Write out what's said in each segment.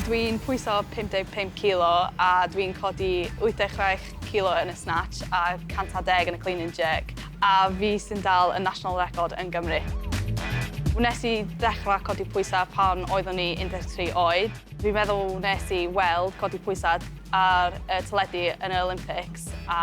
Dwi'n pwyso 55 kilo a dwi'n codi 86 kilo yn y snatch a 110 yn y clean and jerk, a fi sy'n dal y national record yn Gymru. Wnes i ddechrau codi pwysau pan oeddwn i 13 oed. Fi'n meddwl wnes i weld codi pwysau ar y teledu yn yr Olympics a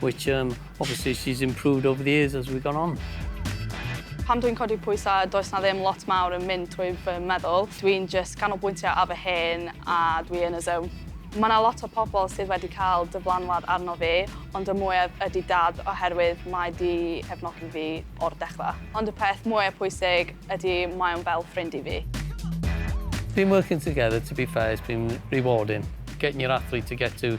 which um, obviously she's improved over the years as we've gone on. Pan dwi'n codi pwysau, does na ddim lot mawr yn mynd trwy fy meddwl. Dwi'n just canolbwyntio ar fy hen a dwi yn y zone. Mae yna lot o pobl sydd wedi cael dyflanwad arno fi, ond y mwyaf ydy dad oherwydd mae di cefnogi fi o'r dechrau. Ond y peth mwyaf pwysig ydy mae o'n fel ffrind i fi. Been working together, to be fair, it's been rewarding. Getting your athlete to get to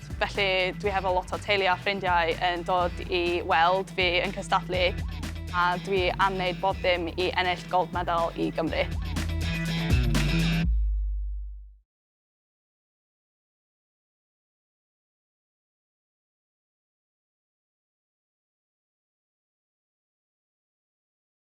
Ffrainc. Felly dwi hefo lot o teulu a ffrindiau yn dod i weld fi yn cystadlu a dwi am wneud bob dim i ennill gold medal i Gymru.